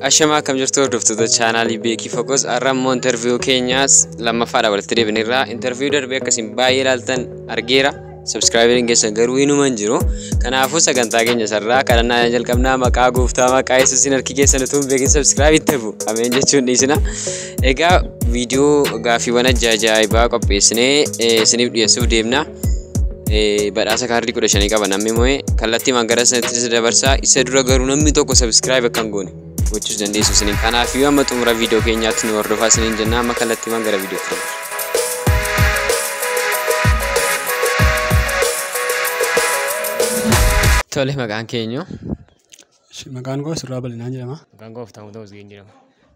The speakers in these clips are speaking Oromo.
Ashamaa akkam jirtu hordoftoota chaanaalii Beekii Fokoos har'a immoo interviiyuu keenyaas lammaffaadha walitti deebineerra. Interviiyuu darbee akkasiin baay'ee ilaaltan argeera. Subscriberiin keessan garuu hinuma hin jiru. Kanaafuu sagantaa keenya sarraa kadhannaa jalqabnaa maqaa gooftaa maqaa yesuusiin harki keessan utuu hin beekin subscribe itti bu'u. Ameen jechuun dhiisina. Egaa viidiyoo gaaffiiwwan ajaa'ibaa qopheessinee isiniif dhiyeessuuf deemna. badhaasa kaardii kudha shanii qaba namni moo'ee kallattii magara sanatti dabarsaa isa dura garuu namni tokko sabiskiraayib akka hin goone gochuus dandeessu isiniin kanaaf yoo amma xumura viidiyoo keenyaatti nu hordofaa isiniin jennaa amma kallattii magara viidiyoo keenya. Tole maqaan keenyu Maqaan koo Surraa Bal'inaan jedhama. Maqaan koo Habtaamuu Tamasgeen jedhama.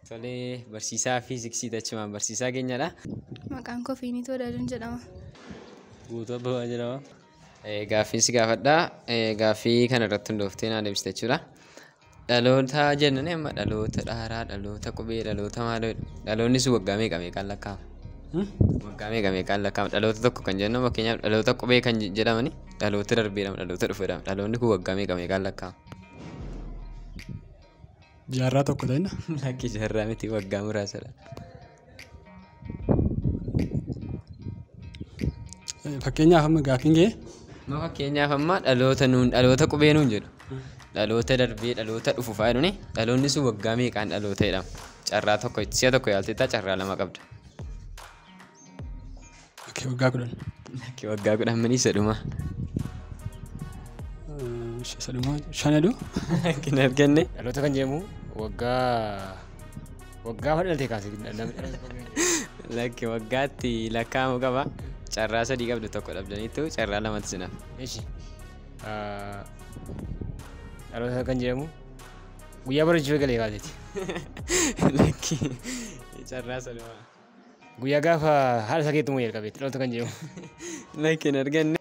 Tolee, barsiisaa fiiziksii tachumaan barsiisaa keenyadha. Maqaan koo Fiiniitu Wadaajoon jedhama. Guutuu Abbabaa jedhama. Gaaffiin si gaafadha. Gaaffii kana irratti hundooftee naa deebiste jechuudha. Dhaloota jennuun amma dhaloota dhaaraa, dhaloota qubee, dhaloota maaloo dhaloonni sun waggaa meeqa meeqaan lakkaa'ama? Waggaa meeqa meeqaan lakkaa'ama? Dhaloota tokko kan jennu fakkeenyaaf dhaloota qubee kan jedhamani Dhaloota darbeedhaam dhaloota dhufeedhaam dhaloonni kun waggaa meeqa meeqaan lakkaa'ama. Jaarraa tokko ta'ina. Lakki jaarraa miti waggaa muraasadha. Fakkeenyaaf amma gaaffiin kee. Ma fakkeenyaaf amma dhaloota nuun dhaloota qubee nuun jedhu. Dhaloota darbee dhaloota dhufu fa'aa jedhuni dhaloonni sun waggaa meeqaan dhaloota jedhama. Carraa tokko si'a tokko yaalteettaa carraa lama qabda. Akka waggaa kudhan. Akka waggaa kudhan mini isa dhuma. Isa dhuma shanadoo. Akka hin arganne. Dhaloota kan jedhamu waggaa waggaa hoo dhalatee kaasee namni dhaloota kan jedhamu. Lakki waggaatti lakkaa'amu qaba. Carraa sadii qabdu tokko dhabdaniittu carraa lamatti sinaaf. Eshi. Dhaloota kan jedhamu guyyaa barachuu eegalee kaaseeti. Lakki carraa saduma. Guyyaa gaafa haala isaa keetti immoo jalqabe itti dhalootu kan jedhamu. Like hin arganne.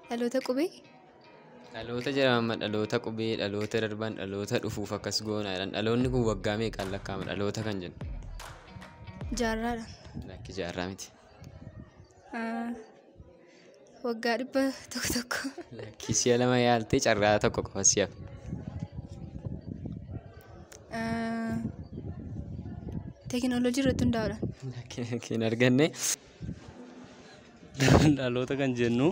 Dhaloota qubee? Dhaloota jedhama amma dhaloota qubee dhaloota darban dhaloota dhufuuf akkas goona jedhan dhaloonni kun waggaa meeqaan lakkaa'ama dhaloota kan jennu Jaarraadha. lakki jaarraa miti. Ah, Waggaa dhibba tokko tokko. Lakkii si'a lama yaaltee carraa tokko qofa si'a. Ah, Teekinooloojii irratti hundaa'uudhaan. Lakkii lakkii hin arganne. Dhaloota kan jennu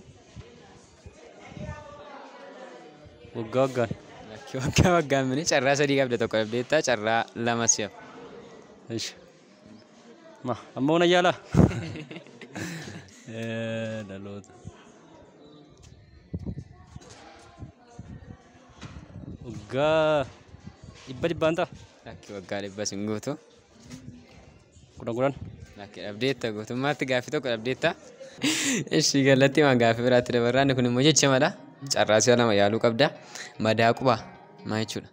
waggaa waggaan. Lakkii waggaa waggaan mini carraa sadii qabda tokko dhabdeetta carraa lama si'a. Ishi. Ma, amma una yaalaa? Eh, Dhaloota. Waggaa dhibba dhibbaan ta'a. Lakki waggaa dhibba sin guutu. Kudhan kudhan. Lakki dhabdeetta guutummaatti gaaffii tokko dhabdeetta. Ishi galatti waan gaaffii biraatti dabarraa inni kun immoo jechamadha. Carraasii lama yaaluu qabda. Madaa qubaa maal jechuudha?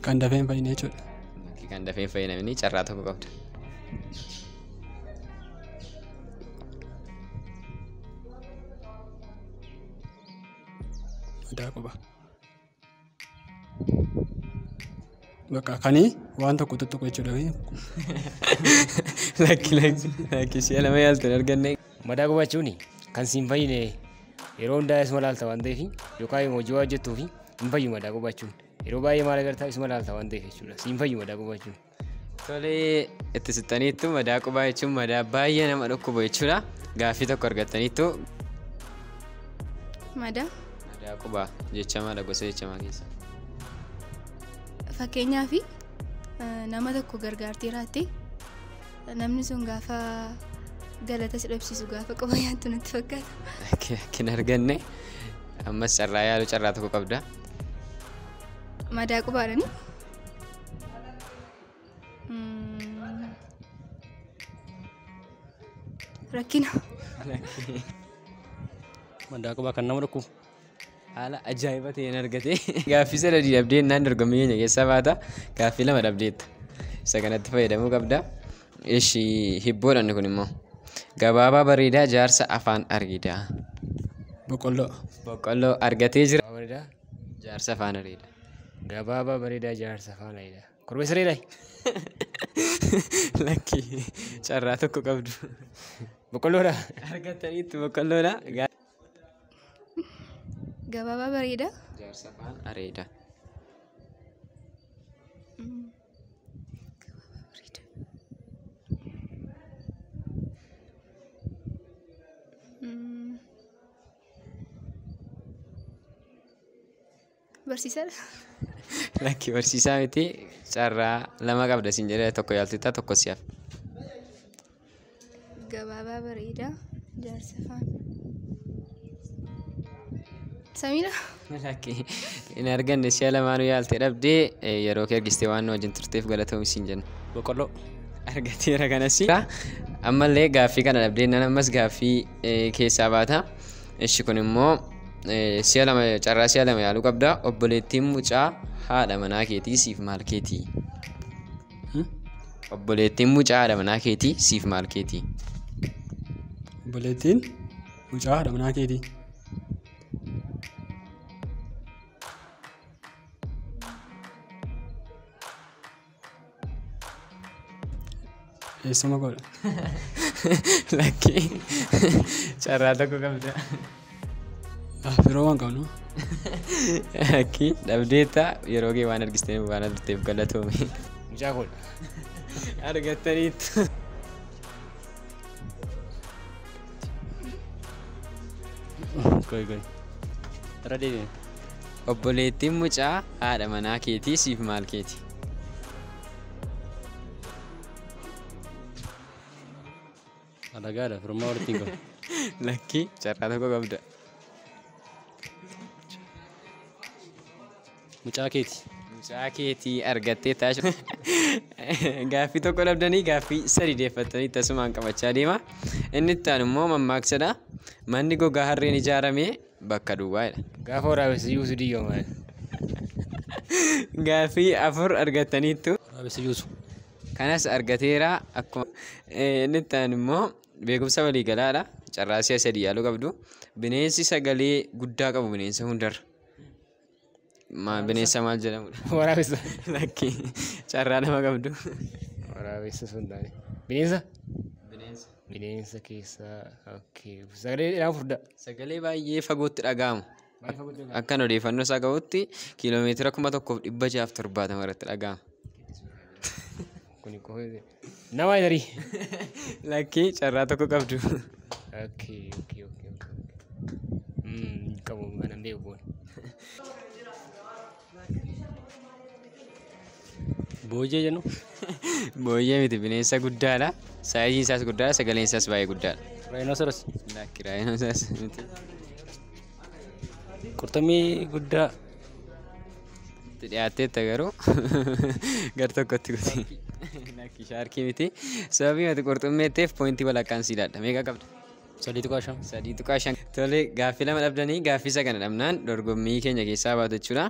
Kan dafee hin fayyine jechuudha. Lakkii kan dafee hin fayyinamini carraa tokko qabda. Madaa quba. Bakka kanii waan tokko tuttuqu jechuudha. Lakki lakki lakki si'a lama yaaltu hin arganne. Madaa gubachuun kan siin fayyine yeroo hundaa isuma laalta waan ta'eef yookaan immoo hojii waan hojjettuuf hin fayyu madaa gubachuun. Yeroo baay'ee maal agartaa isuma laalta waan ta'eef jechuudha. Siin fayyu madaa gubachuun. Tolee itti sittaniittu madaa qubaa jechuun madaa baay'ee nama dhukkubu jechuudha. Gaaffii tokko argattaniittu Madaa madaa qubaa jechamaadha gosa jechamaa keessa. fakkeenyaaf nama tokko gargaartee jiraatte namni sun gaafa galata si dhabsiisu gaafa quba nyaattu natti fakkaata. Kan arganne ammas carraa yaaluu carraa tokko qabda. Madaa qubaadhani Rakkina. Maddaa qubaa kan nama dhukkubu. Haala ajaa'iba ta'een argate. Gaaffii sadadii dhabdee innaan dorgommii keenya keessaa baata. Gaaffii lama dhabdeetta. Isa kanatti fayyadamuu qabda. Ishi hibboodhaan kun immoo. Gabaabaa bareedaa jaarsa afaan areedaa. Boqqolloo. Boqqolloo argatee jira. Bareedaa. Jaarsa faana reeda. Gabaabaa bareedaa jaarsa faana reeda. Korbeessa reeda. Lakki carraa tokko qabdu. Boqqolloodha. Argataniitti boqqolloodha. Gabaabaa bareedaa. Jaarsa faana reeda. Barsiisadha. Lakki barsiisaa miti carraa lama qabda siin jedhee tokko yaaltita tokko si'af. Gabaabaa bareedaa jaarsa faana. Samiidha. Lakki hin arganne si'a lamaanuu yaalte dhabde yeroo kee argistee waan nu wajjin turteef galatoomi siin jenna. Boqqolloo argateera kanas. Ammallee gaaffii kana dhabdee nan ammas gaaffii keessaa baata. Ishi kun immoo si'a lama carraa si'a lama yaaluu qabda. Obboleettiin mucaa haadha manaa keetii siif maal keetii? Obboleettiin mucaa haadha manaa keetii siif maal keetii? Obboleettiin mucaa haadha manaa keetii. Eessuma godha. Lakkii carraa tokko qabda. Ah, Firoo waan qabnu. Lakkii dhabdeetta yeroo kee waan argistee waan argiteef galatoomi. Mucaa godha. Argattaniitu. Obboleettiin mucaa haadha manaa keetii siif maal keeti? Alagaadha firummaa walitti hin qabu. Lakkii carraa tokko qabda. Mucaa keeti. Mucaa keeti argattee taashu. Gaaffii tokko dhabdanii gaaffii sadi deeffattanii tasumaan qabachaa deema. Inni itti aanu immoo mammaaksadha. Manni gogaa harreen ijaarame bakka duwwaadha. Gaafa waraabessa yuusu diyyoo maal? Gaaffii afur argattaniittu. Waraabessa yuusu. Kanas argateera akkuma inni itti aanu immoo beekumsa waliigalaadha. Carraa si'a sadii yaaluu qabdu. Bineensi sagalee guddaa qabu bineensa hundarra. Ma- Bineensa maal jedhamudha? Waraabessa. Lakki carraa nama qabdu. Waraabessa sun taane. Bineensa? Bineensa. Bineensa keessaa. Okay. Sagalee dheeraa furdaa. Sagalee baay'ee fagootti dhaga'amu. Maal fagoo jira? Akkan odeeffannoo isaa qabutti kiiloomeetira kuma tokkoof dhibba jaaf torbaatama irratti dhaga'ama. Kuni qofa. Nama hin arii. Lakkii carraa tokko qabdu. Okay, okay, okay, okay. Mm, qabu kanan beeku boona. Boojee jennu. Booyyee miti bineensa guddaadha. Saayiziin isaas guddaadha, sagaleen isaas baay'ee guddaadha. Rhinoceros. Lakki raayinosaas miti. Qurxummii guddaa itti dhiyaatteetta garuu gar tokkotti kuti. Lakki shaarkii miti. Sababii ati qurxummii jetteef poointii walakkaan sii laadha. Meeqa qabda? Sadii tuqaa shan. Sadii tuqaa shan. Tole gaaffii lama dhabdanii gaaffii isa kana dhabnaan dorgommii keenya keessaa baatu jechuudha.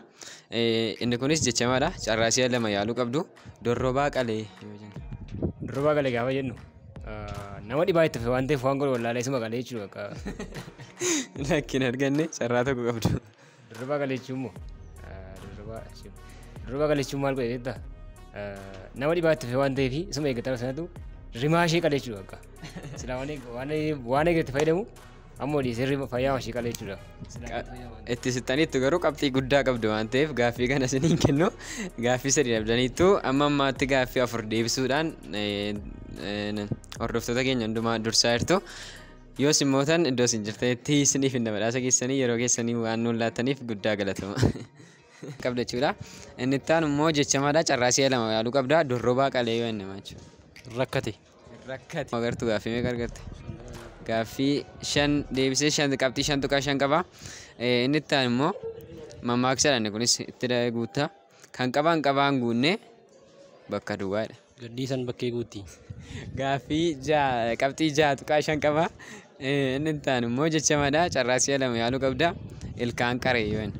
Inni kunis jechamaadha. Carraa si'a lama yaaluu qabdu. Dorrobaa qalee yoo jennu. Dorrobaa qalee gaafa jennu nama dhibaa itti waan ta'eef waan godhu wallaalee isuma qalee jechuudha akka. Lakkin arganne carraa tokko qabdu. Dorrobaa qalee jechuun immoo dorrobaa dorrobaa qalee jechuun maal godhe jeetta nama dhibaa itti waan ta'eef isuma eeggatama sanatu rimaa ishee qalee jechuudha akka. Silaa waan eeg- waan eeg- waan eegatti fayyadamu Ammoo dhiisi sirrii fayyaa hoshii qalee jechuudha. Itti sittaniittu garuu qabxii guddaa qabdu waan ta'eef gaaffii kana isin hin kennu. Gaaffii sadii dhabdaniittu amma ammaatti gaaffii afur deebisuudhaan eh, eh, hordoftoota keenya hundumaa dursaa jirtu. Yoo isin mootan iddoo isin jirtanitti isiniif hin badhaasa keessanii yeroo keessanii waan nuun laattaniif guddaa galatama. qabda jechuudha. Inni itti aanu immoo jechamaadha carraa si'a lama yaaluu qabda dorrobaa qalee yoo inni jechuudha. Rakkate. rakkate. Agartu gaaffii meeqa argatte? Gaaffii shan deebisee shan qabxii shan tuqaa shan qaba. Eh, Inni itti aanu immoo mammaaksadha inni kunis itti da- guutta. Kan qabaan qabaan guunne bakka duwwaadha. Gaddiisan bakkee guutti. Gaaffii ja'a qabxii ja'a tuqaa shan qaba. Eh, Inni itti aanu immoo jechamadha. Carraa si'a lama yaaluu qabda. Ilkaan qaree yoo inni.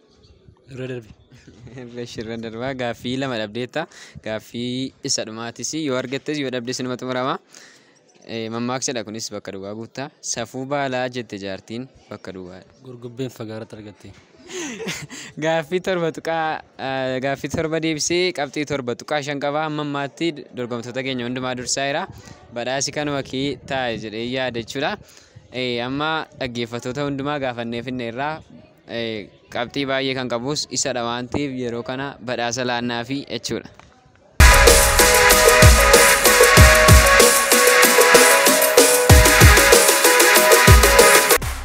Irra darbi. Bashirra darbaa gaaffii lama dhabdeetta. Gaaffii isa dhumaatis yoo argattes yoo dhabdes inuma xumurama. Eh, Mammaaksadha kunis bakka duwwaa guutta. Safuu baalaa jette jaartiin bakka duwwaadha. Gurgubbeen fagaaratti argatte. Gaaffii torba tuqaa eh, gaaffii torba deebisee qabxii torba tuqaa shan qaba hamma ammaatti dorgomtoota keenya hundumaa dursaa jira. Badhaasi kanuma kee taa'e jedhee yaada jechuudha. Eh, Amma dhaggeeffattoota hundumaa gaafannee finne irraa qabxii baay'ee kan qabus isadha waan ta'eef yeroo kana badhaasa laannaafi jechuudha.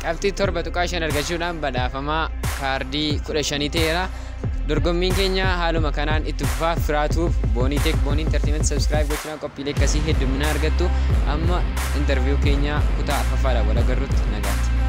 Qabxii torba tuqaa shan argachuudhaan badhaafamaa kaardii kudha shanii ta'eera. Dorgommiin keenya haaluma kanaan itti fufaa firaatuuf boonii teek boonii intartiimenti sabskiraayib gochuudhaan qophiilee akkasii hedduminaa argattu amma intarviiyuu keenya kutaa afaffaadhaan wal agarrutti nagaatti.